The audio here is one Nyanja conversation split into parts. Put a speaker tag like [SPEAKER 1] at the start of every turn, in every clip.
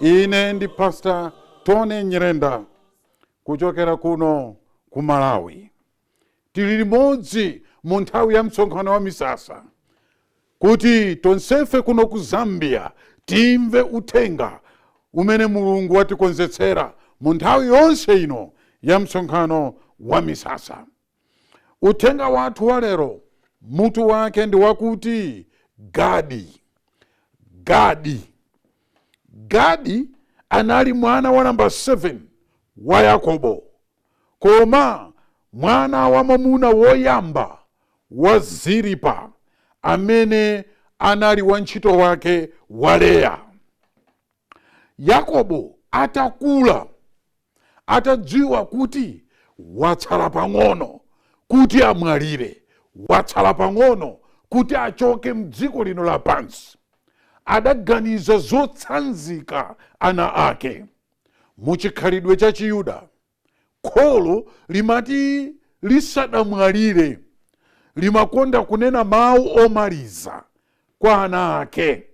[SPEAKER 1] ine ndi pastor tony nyirenda kuchokera kuno ku malawi tili limodzi mu nthawi ya msonkhano wa misasa kuti tonsefe kuno ku zambia timve uthenga umene mulungu watikonzetsera mu nthawi yonse ino ya msonkhano wa misasa Uthenga wathu wa lero mutu wake ndi wakuti Gadi. Gadi. Gadi anali mwana wa namba 7 wa Yakobo, koma mwana wamwamuna woyamba wa Zilipa amene anali wantchito wake wa Leya. Yakobo atakula, atadziwa kuti watsala pang'ono kuti amwalire, watsala pang'ono kuti achoke m'dziko lino lapansi, adaganiza zotsanzika ana ake. Mu chikhalidwe cha Chiyuda, kholo limati lisadamwalire, limakonda kunena mawu omaliza kwa ana ake.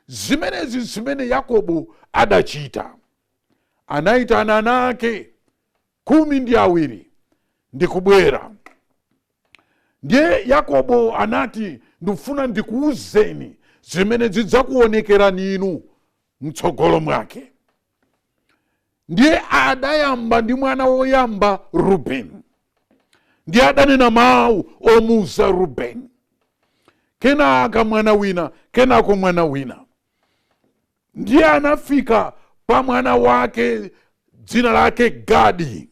[SPEAKER 1] Zimenezi n'zimene Yakobo adachita. Anaitana ana ake khumi ndi awiri ndi kubwera. Ndiye Yakobo anati, Ndifuna ndikuuzeni zimene zidzakuonekerani inu m'tsogolo mwake. ndiye adayamba ndi mwana woyamba rubeni ndiye adanena mawu omuuza rubeni kenaka mwana wina kenako mwana wina ndiye anafika pa mwana wake dzina lake gadi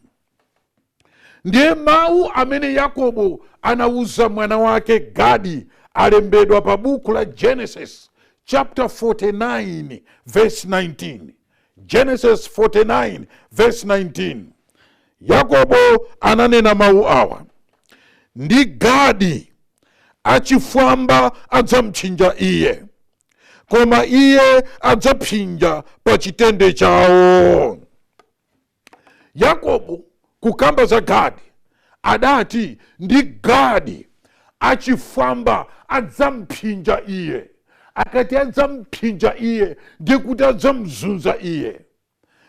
[SPEAKER 1] ndiye mawu amene yakobo anawuza mwana wake gadi alembedwa pa buku la genesis chapter 49 verse 19 genesis 49 verse 19 yakobo ananena mawu awa ndi gadi achifwamba adzampsinja iye koma iye adzapsinja pa chitende chawo Yakobo kukamba za Gadi adati, Ndi Gadi, achifwamba adzampsinja iye. Akati adzampsinja iye, ndi kuti adzamzunza iye.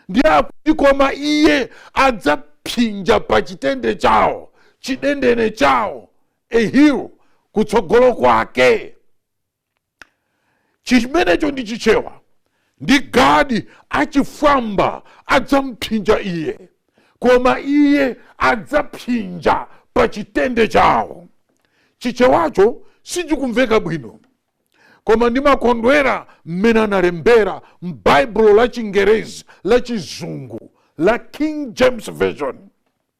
[SPEAKER 1] Ndiye akuti koma iye adzapsinja pa chitende chawo, chidendene chawo, a heel, kutsogolo kwake. chimenecho ndi chichewa ndi gadi achifwamba adzampsinja iye koma iye adzapsinja pa chitende chawo chichewacho sichikumveka bwino koma ndimakondwera mmene analembera m'baibulo la chingerezi la chizungu la king james version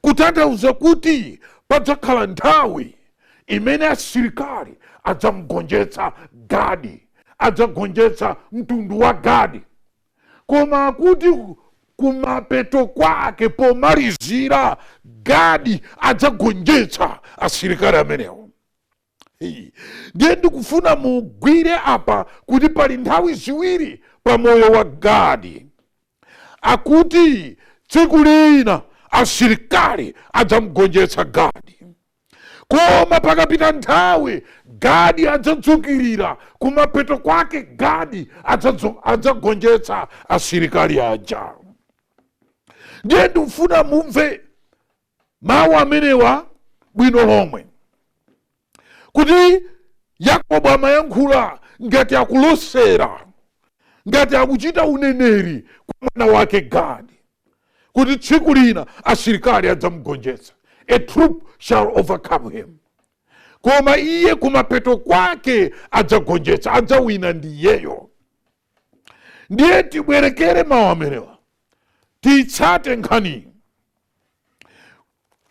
[SPEAKER 1] kutanthauza kuti padzakhala nthawi imene asilikali adzamgonjetsa Gadi, adzagonjetsa mtundu wa Gadi. Koma kuti kumapeto kwake, pomalizira, Gadi adzagonjetsa asilikali amenewo. ndiye ndikufuna mugwire apa kuti pali nthawi ziwiri pa moyo wa gadi akuti tsiku lina asilikali adzamgonjetsa gadi koma pakapita nthawi gadi adzadzukirira kumapeto kwake gadi adzagonjetsa asilikali aja ndiye ndikufuna mumve mawu amenewa bwino lomwe kuti yakobo amayankhula ngati akulosera ngati akuchita uneneri kwa mwana wake gadi kuti tsiku lina asilikali adzamgonjetsa a troop shall overcome him koma iye kumapeto kwake adzagonjetsa adzawina ndi iyeyo ndiye tibwerekere mawu amenewa titsate nkhani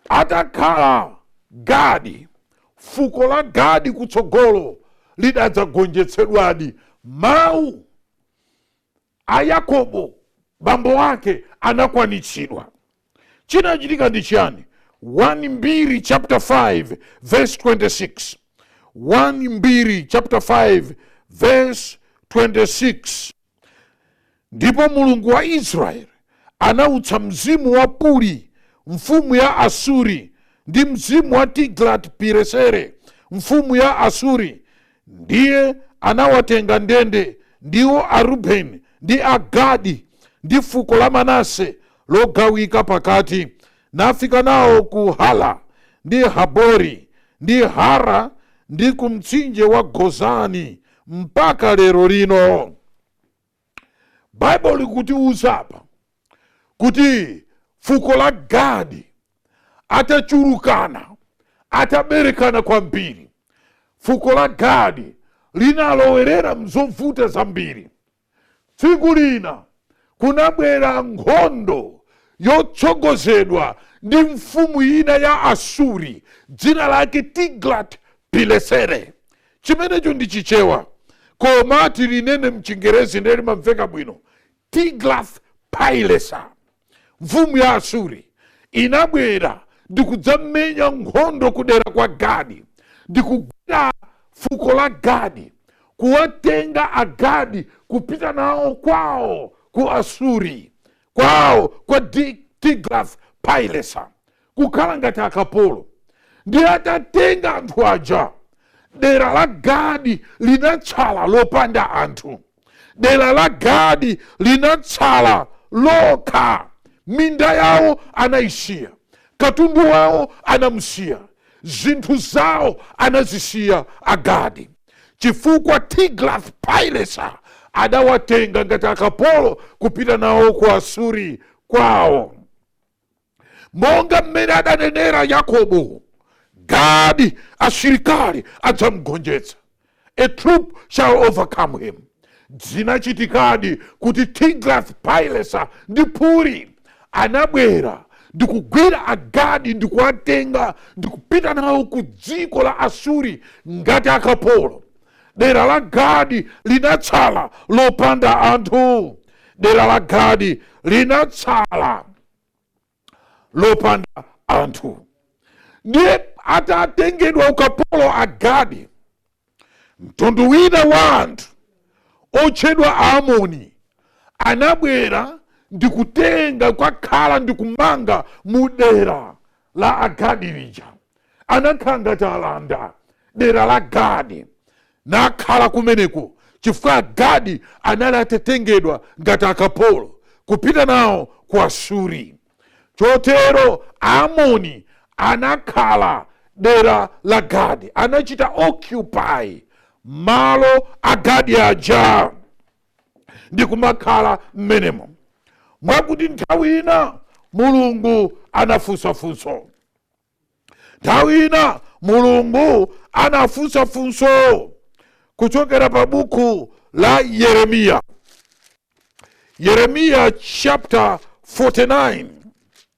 [SPEAKER 1] atakhala gadi fuko la gadi kutsogolo lidadzagonjetsedwadi mawu a yakobo bambo wake anakwanitsidwa Chinachitika ndi chiyani? 1 Mbiri chaputala 5 vesi 26. 1 Mbiri chaputala 5 vesi 26. Ndipo Mulungu wa Israeli anautsa mzimu wa Puli mfumu ya Asuri, ndi mzimu wa Tiglati Pilesere mfumu ya Asuri, ndiye anawatenga ndende, ndiwo Arubeni ndi Agadi ndi fuko la Manase, logawika pakati, nafika nawo ku Hala, ndi Habori, ndi Hara, ndi ku mtsinje wa Gozani, mpaka lero lino. Baibulo likutiuza apa kuti fuko la Gadi atachulukana, ataberekana kwambiri, fuko la Gadi linalowerera mzovuta zambiri. Tsiku lina kunabwera nkhondo yotsogozedwa ndi mfumu ina ya Asuri dzina lake Tiglat-Pilesere. Chimenecho ndi Chichewa, koma tilinene m'Chingerezi ndiye limamveka bwino, Tiglath-Pileser. mfumu ya Asuri inabwera ndi kudzamenya nkhondo kudera kwa Gadi ndi kugwira fuko la Gadi, kuwatenga Agadi kupita nawo kwawo ku Asuri, kwawo kwa Tiglath Pilesa, kukhala ngati akapolo. Ndi atatenga anthu aja, dera la Gadi linatsala lopanda anthu. dera la gadi linatsala lokha minda yawo anayisiya katundu wawo anamusiya zinthu zawo anazisiya agadi chifukwa tiglath pilesa adawatenga ngati akapolo kupita nawo ku asuri kwawo monga mmene adanenera yakobo gadi asilikali adzamgonjetsa a troop shall overcome him zinachitikadi kuti tiglath pilesa ndi puli anabwera ndikugwira agadi ndikuwatenga ndikupita nawo ku dziko la asuri ngati akapolo dera la gadi linatsala lopanda anthu dera la gadi linatsala lopanda anthu ndiye atatengedwa ukapolo agadi mtundu wina wa anthu otchedwa aamoni anabwera ndikutenga kokhala ndikumanga mu dera la Agadi lija, anakhala ngati alanda dera la Gadi, nakhala kumeneko chifukwa Agadi anali atatengedwa ngati akapolo kupita nawo ku Asuri. Chotero Aamoni anakhala dera la Gadi, anachita occupy malo a Gadi aja. ndi kumakhala mmenemo mwakuti nthawi ina mulungu anafunsa funso nthawi ina mulungu anafunsa funso kuchokera pa buku la yeremiya yeremiya chapter 49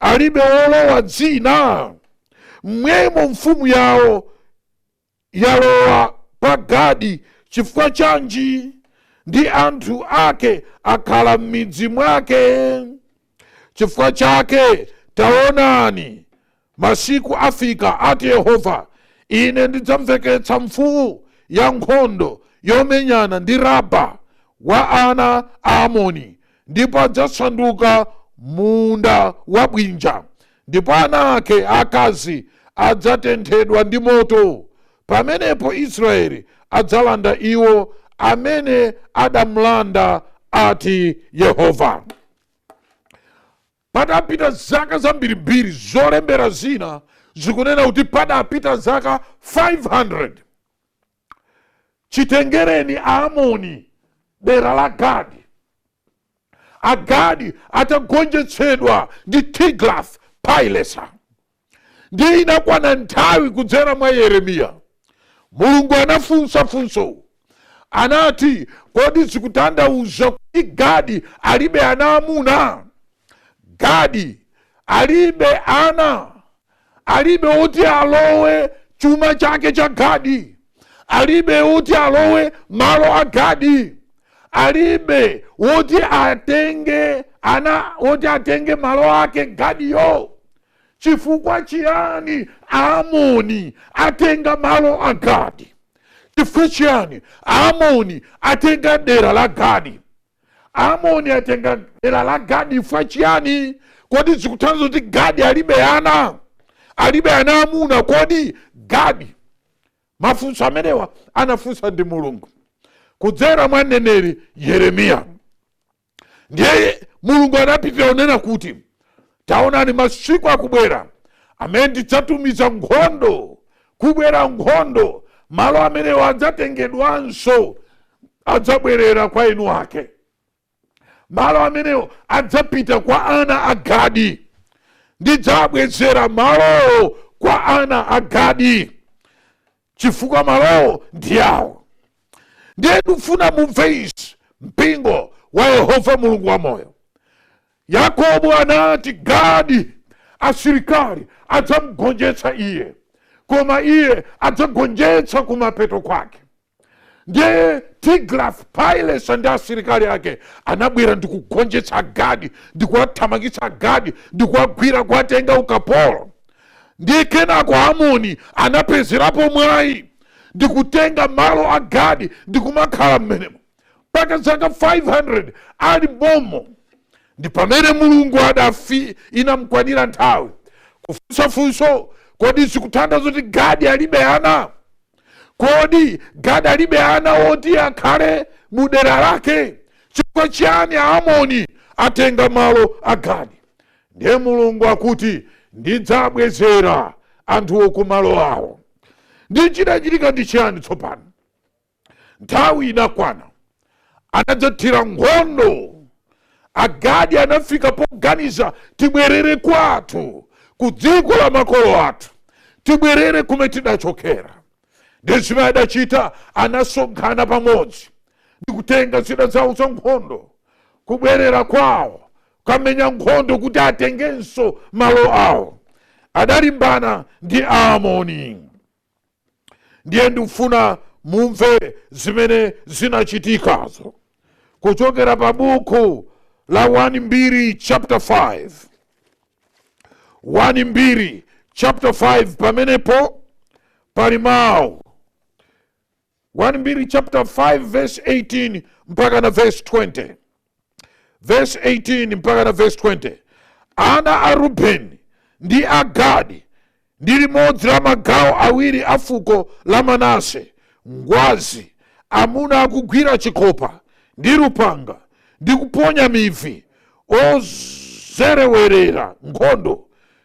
[SPEAKER 1] alibe wolowa dzina mmwemo mfumu yawo yalowa pa gadi chifukwa chanji ndi anthu ake akhala m'midzi mwake chifukwa chake taonani Masiku afika, ati Yehova, Ine ndidzamveketsa mfuu ya nkhondo yomenyana ndi Raba wa ana a Amoni, ndipo adzasanduka mulu wabwinja, ndipo ana ake aakazi adzatenthedwa ndi moto, pamenepo Israyeli adzalanda iwo amene adamlanda, ati Yehova. Patapita zaka zambirimbiri, zolembera zina zikunena kuti padapita zaka 500 chitengereni Aamoni dera la Gadi, Agadi atagonjetsedwa ndi Tiglath-Pileser. ndiye inakwana nthawi kudzera mwa yeremiya mulungu anafunsa funso anati kodi zikutanthauza kuti gadi alibe ana amuna gadi alibe ana alibe oti alowe chuma chake cha gadi alibe oti alowe malo a gadi alibe woti atenge ana woti atenge malo ake gadiyo Chifukwa chiyani Aamoni atenga malo a Gadi? Chifukwa chiyani Aamoni atenga dera la Gadi? Aamoni atenga dera la Gadi chifukwa chiyani? Kodi zikutanthauza kuti Gadi alibe ana? Alibe ana amuna? Kodi Gadi? Mafunso amenewa anafunsa ndi Mulungu kudzera mwa mneneri Yeremiya. ndiye mulungu anapitirira kunena kuti taonani masiku akubwera amene ndidzatumiza nkhondo kubwera nkhondo malo amenewo adzatengedwanso adzabwerera kwa eni ake malo amenewo adzapita kwa ana a gadi ndidzabwezera malowo kwa ana a gadi chifukwa malowo ndi awo ndiye ndikufuna mumve izi mpingo wa yehova mulungu wamoyo yakobo anati gadi asilikali adzamgonjetsa iye koma iye adzagonjetsa kumapeto kwake ndiye tiglath pilesa ndi asilikali ake anabwera ndi kugonjetsa agadi ndi kuwathamangitsa agadi ndi kuwagwira kuwatenga ukapolo ndiye kenako amoni anapezerapo mwayi ndikutenga malo a gadi ndikumakhala mmenemo mpaka zaka 500 ali momo ndi pamene mulungu adafi inamkwanira nthawi kufunsa funso kodi zikutanthauza kuti gadi alibe ana kodi gadi alibe ana woti akhale mu dera lake chifukwa chiyani amoni atenga malo a gadi Ndiye Mulungu akuti, Ndidzabwezera anthuwo ku malo awo. Ndiye chinachitika ndi chiyani tsopano? Nthawi inakwana, anadzathira nkhondo. Agadi anafika poganiza, tibwerere kwathu, ku dziko la makolo athu, tibwerere kumene tidachokera. Ndiye zimene adachita, anasonkhana pamodzi ndi kutenga zida zawo zankhondo kubwerera kwawo kukamenya nkhondo kuti atengenso malo awo adalimbana ndi aamoni ndiye ndikufuna mumve zimene zinachitikazo kuchokera pa buku la 1 mbiri chapter 5 1 mbiri chapter 5 pamenepo pali mawu 1 Mbiri chapter 5 verse 18 mpaka na verse 20 verse 18 mpaka na verse 20 ana a rubeni ndi a gadi ndi limodzi la magawo awiri a fuko la manase ngwazi amuna akugwira chikopa ndi lupanga ndi kuponya mivi ozerewerera nkhondo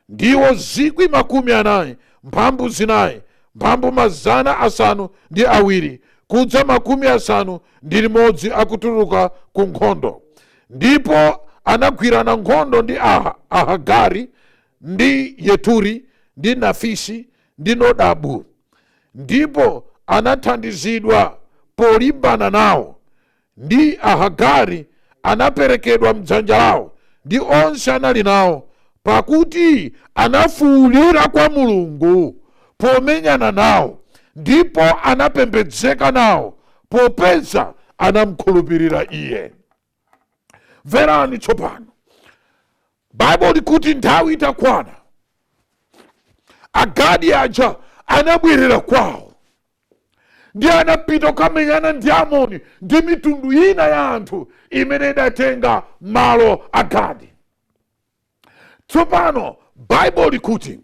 [SPEAKER 1] ndiwo zikwi makumi anayi mphambu zinayi mphambu mazana asanu ndi awiri kudza makumi asanu ndi limodzi akutuluka ku nkhondo ndipo anagwirana nkhondo ndi Ahagari ndi yeturi ndi nafisi ndi nodabu ndipo anathandizidwa polimbana nawo ndi Ahagari anaperekedwa m'dzanja lawo ndi onse anali nawo, pakuti anafuulira kwa Mulungu pomenyana nawo, ndipo anapembedzeka nawo, popeza anamkhulupirira iye. Mverani tsopano, Bible likuti nthawi itakwana agadi aja anabwerera kwawo ndi anapita kukamenyana ndi amoni ndi mitundu ina ya anthu imene idatenga malo a gadi tsopano bible likuti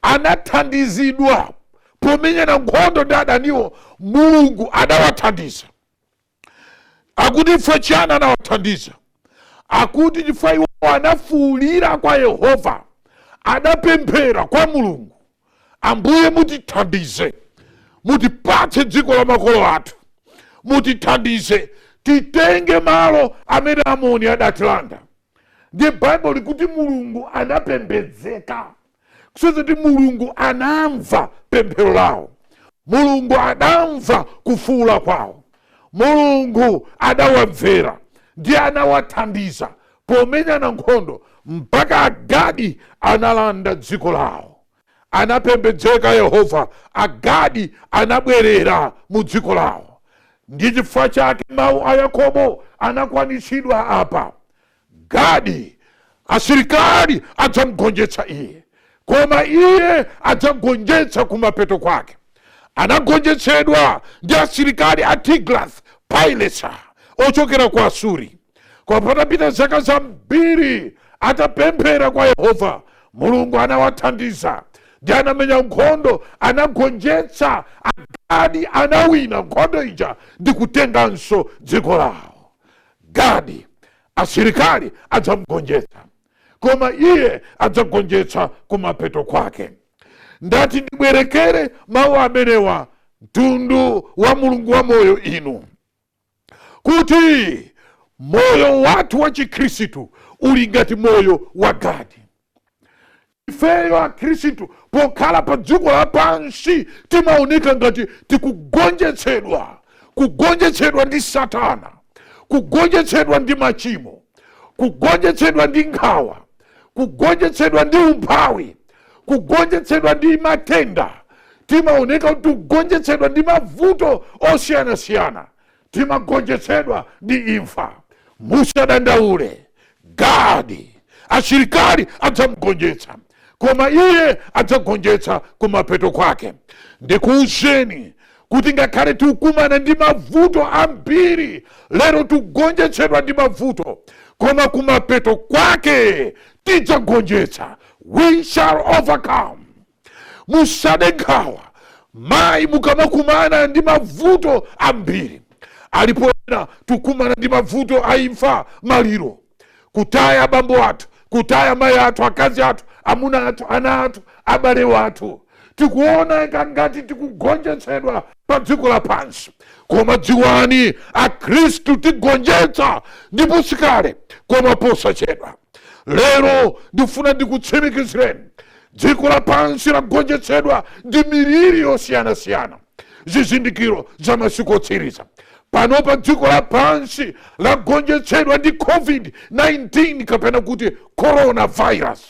[SPEAKER 1] anathandizidwa pomenyana nkhondo ndi adaniwo mulungu adawathandiza akuti chifukwa chiyani anawathandiza akuti chifukwa iwo anafuulira kwa yehova adapemphera kwa mulungu ambuye mutithandize mutipatse dziko la makolo athu mutithandize titenge malo amene amoni adatilanda ndiye baibulo likuti mulungu anapembedzeka kusonyeza kuti mulungu anamva pemphero lawo mulungu anamva kufuula kwawo mulungu anawamvera ndiye anawathandiza pomenyana nkhondo mpaka agadi analanda dziko lawo anapembedzeka yehova agadi anabwerera mu dziko lawo ndi chifukwa chake mawu a yakobo anakwanitsidwa apa Gadi, asilikali adzamugonjetsa iye, koma iye adzagonjetsa kumapeto kwake. Anagonjetsedwa ndi asilikali a Tiglath Pileser ochokera ku Asuri. Koma patapita zaka zambiri, atapemphera kwa Yehova, Mulungu anawathandiza ndiye anamenya nkhondo, anagonjetsa Agadi, anawina nkhondo ija ndi kutenganso dziko lawo. Gadi, asilikali adzamugonjetsa, koma iye adzagonjetsa kumapeto kwake. Ndati ndibwerekere mawu amenewa mtundu wa Mulungu wa moyo inu, kuti moyo wathu wa Chikhristu uli ngati moyo wa Gadi. Ifeyo Akhristu pokhala padziko lapansi timaoneka ngati tikugonjetsedwa, kugonjetsedwa ndi Satana, kugonjetsedwa ndi machimo, kugonjetsedwa ndi nkhawa, kugonjetsedwa ndi umphawi, kugonjetsedwa ndi matenda. Timaoneka kuti tikugonjetsedwa ndi mavuto osiyanasiyana. timagonjetsedwa ndi imfa musadandaule Gadi asilikali adzamugonjetsa koma iye adzagonjetsa kumapeto kwake ndikuuzeni kuti ngakhale tikukumana ndi mavuto ambiri lero tikugonjetsedwa ndi mavuto koma kumapeto kwake tidzagonjetsa we shall overcome musade nkhawa mayi mukamakumana ndi mavuto ambiri alipo ena tukumana ndi mavuto a imfa maliro kutaya abambo athu kutaya mayi athu akazi athu amuna athu ana athu abale wathu tikuoneka ngati tikugonjetsedwa pa dziko lapansi koma dziwani akhristu tigonjetsa ndipo sikale koma posachedwa lero ndifuna ndikutsimikizireni Dziko lapansi lagonjetsedwa ndi miliri yosiyanasiyana, zizindikiro za masiku otsiriza. Panopa dziko lapansi lagonjetsedwa ndi COVID-19 kapena kuti coronavirus.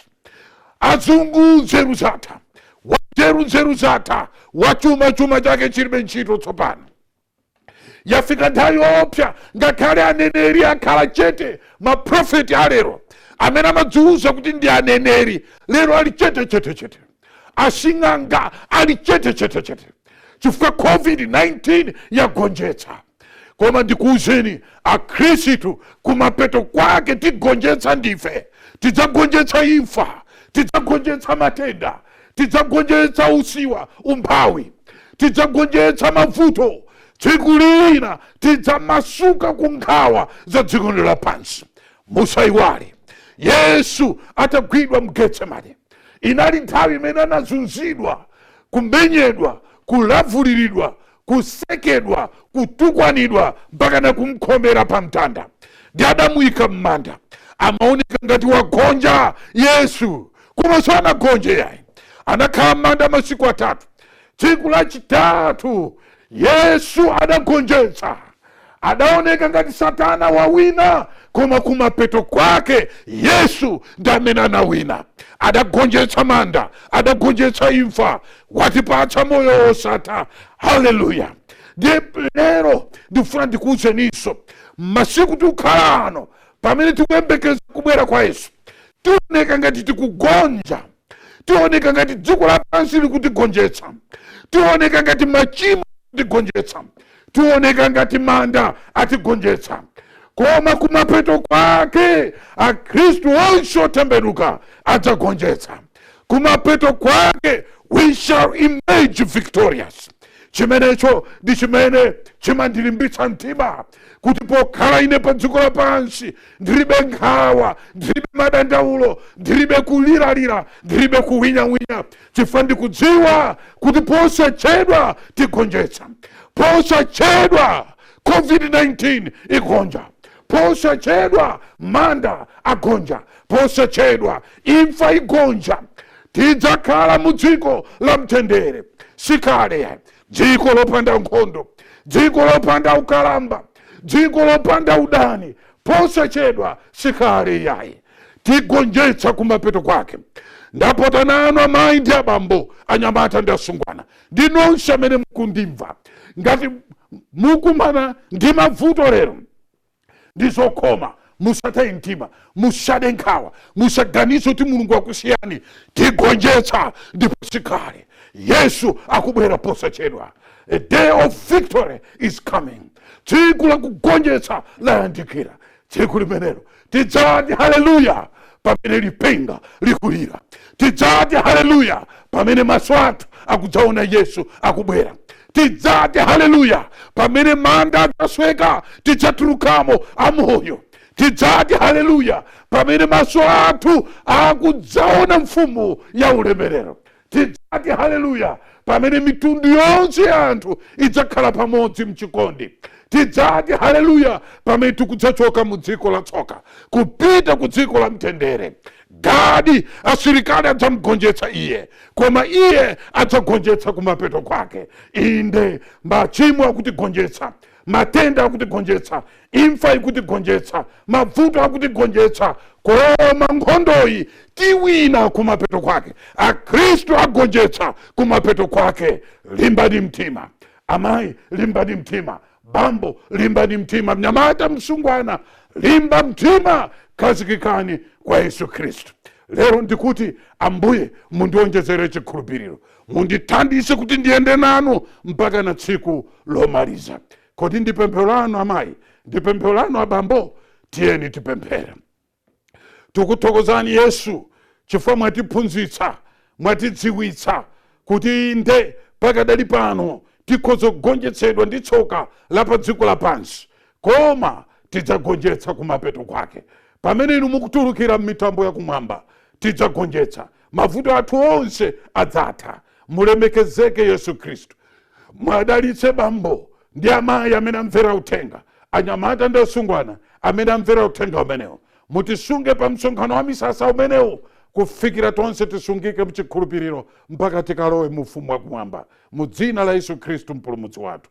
[SPEAKER 1] Azungu nzeru zatha, wanzeru nzeru zatha, wachuma chuma chake chilibe ntchito tsopano. yafika nthawi yoopsa ngakhale aneneri akhala chete maprofeti alero amene amadziwuza kuti ndi aneneri lero ali chete chete chete asing'anga ali chete chete chete chifukwa covid-19 yagonjetsa koma ndikuwuzeni akhristu kumapeto kwake tigonjetsa ndife tidzagonjetsa imfa tidzagonjetsa matenda tidzagonjetsa usiwa umphawi tidzagonjetsa mavuto tsiku lina tidzamasuka ku nkhawa za dziko lino lapansi musayiwale yesu atagwidwa mgetsemane inali nthawi imene anazunzidwa kumenyedwa kulavuliridwa kusekedwa, kutukwanidwa mpakana kumkhomera pa mtanda. Ndi adamuyika m'manda. Amaoneka ngati wagonja Yesu, koma sanagonje iyayi. Anakhala m'manda masiku atatu. Tsiku lachitatu Yesu adagonjetsa. adaoneka ngati satana wawina koma kumapeto kwake yesu ndi amene anawina adagonjetsa manda adagonjetsa imfa watipatsa moyo wosatha haleluya ndiye lero ndifuna ndikuwuzeninso masiku tikukhala ano pamene tikuyembekeza kubwera kwa yesu tioneka ngati tikugonja tioneka ngati dziko lapansi likutigonjetsa tioneka ngati machimo akutigonjetsa Tioneka ngati manda atigonjetsa, koma kumapeto kwake Akhristu onse otembenuka adzagonjetsa. Kumapeto kwake we shall emerge victorious. Chimenecho ndi chimene chimandilimbitsa mtima kuti pokhala ine pa dziko lapansi ndilibe nkhawa, ndilibe madandaulo, ndilibe kuliralira, ndilibe kuwinyawinya, chifukwa ndikudziwa kuti posachedwa tigonjetsa posachedwa covid-19 igonja posachedwa manda agonja posachedwa imfa igonja tidzakhala mu dziko la mtendere sikale yayi dziko lopanda nkhondo dziko lopanda ukalamba dziko lopanda udani posachedwa sikale yayi tigonjetsa kumapeto kwake ndapota nanu amayi ndi abambo anyamata ndi asungwana ndi nonse amene mukundimva ngati mukumana ndi mavuto lero ndi zokhoma musataye mtima musade nkhawa musaganize kuti mulungu wakusiyani tigonjetsa ndipo sikale yesu akubwera posachedwa a day of victory is coming tsiku lakugonjetsa layandikira tsiku limenelo tidzati haleluya pamene lipenga likulira tidzati haleluya pamene maso athu akudzaona yesu akubwera tidzati haleluya pamene manda adzasweka tidzatulukamo amoyo tidzati haleluya pamene maso athu akudzaona mfumu ya ulemerero Tidzati haleluya pamene mitundu yonse ya anthu idzakhala pamodzi mchikondi. Tidzati haleluya pamene tikudzachoka mu dziko la tsoka kupita ku dziko la mtendere. Gadi asilikali adzamgonjetsa iye, koma iye adzagonjetsa kumapeto kwake. Inde, machimo akutigonjetsa, matenda akutigonjetsa imfa ikutigonjetsa mavuto akutigonjetsa koma nkhondoyi tiwina kumapeto kwake akhristu agonjetsa kumapeto kwake limbani mtima amayi limbani mtima bambo limbani mtima mnyamata msungwana limba mtima khazikikani kwa yesu khristu lero ndikuti ambuye mundionjezere chikhulupiriro mundithandize kuti ndiyende nanu mpaka na tsiku lomaliza kodi ndi pemphero lanu amayi ndi pemphero lanu abambo tiyeni tipemphere tikuthokozani yesu chifukwa mwatiphunzitsa mwatidziwitsa kuti inde pakadali pano tikhoza kugonjetsedwa ndi tsoka la pa dziko lapansi koma tidzagonjetsa kumapeto kwake pamene inu mukutulukira m'mitambo yakumwamba tidzagonjetsa mavuto athu onse adzatha mulemekezeke yesu khristu mwadalitse bambo ndi amayi amene amvera uthenga anyamata ndi asungwana amene amvera uthenga umenewu mutisunge pa msonkhano wa misasa umenewu kufikira tonse tisungike mchikhulupiriro mpaka tikalowe mu ufumu wakumwamba mu dzina la yesu khristu mpulumutsi wathu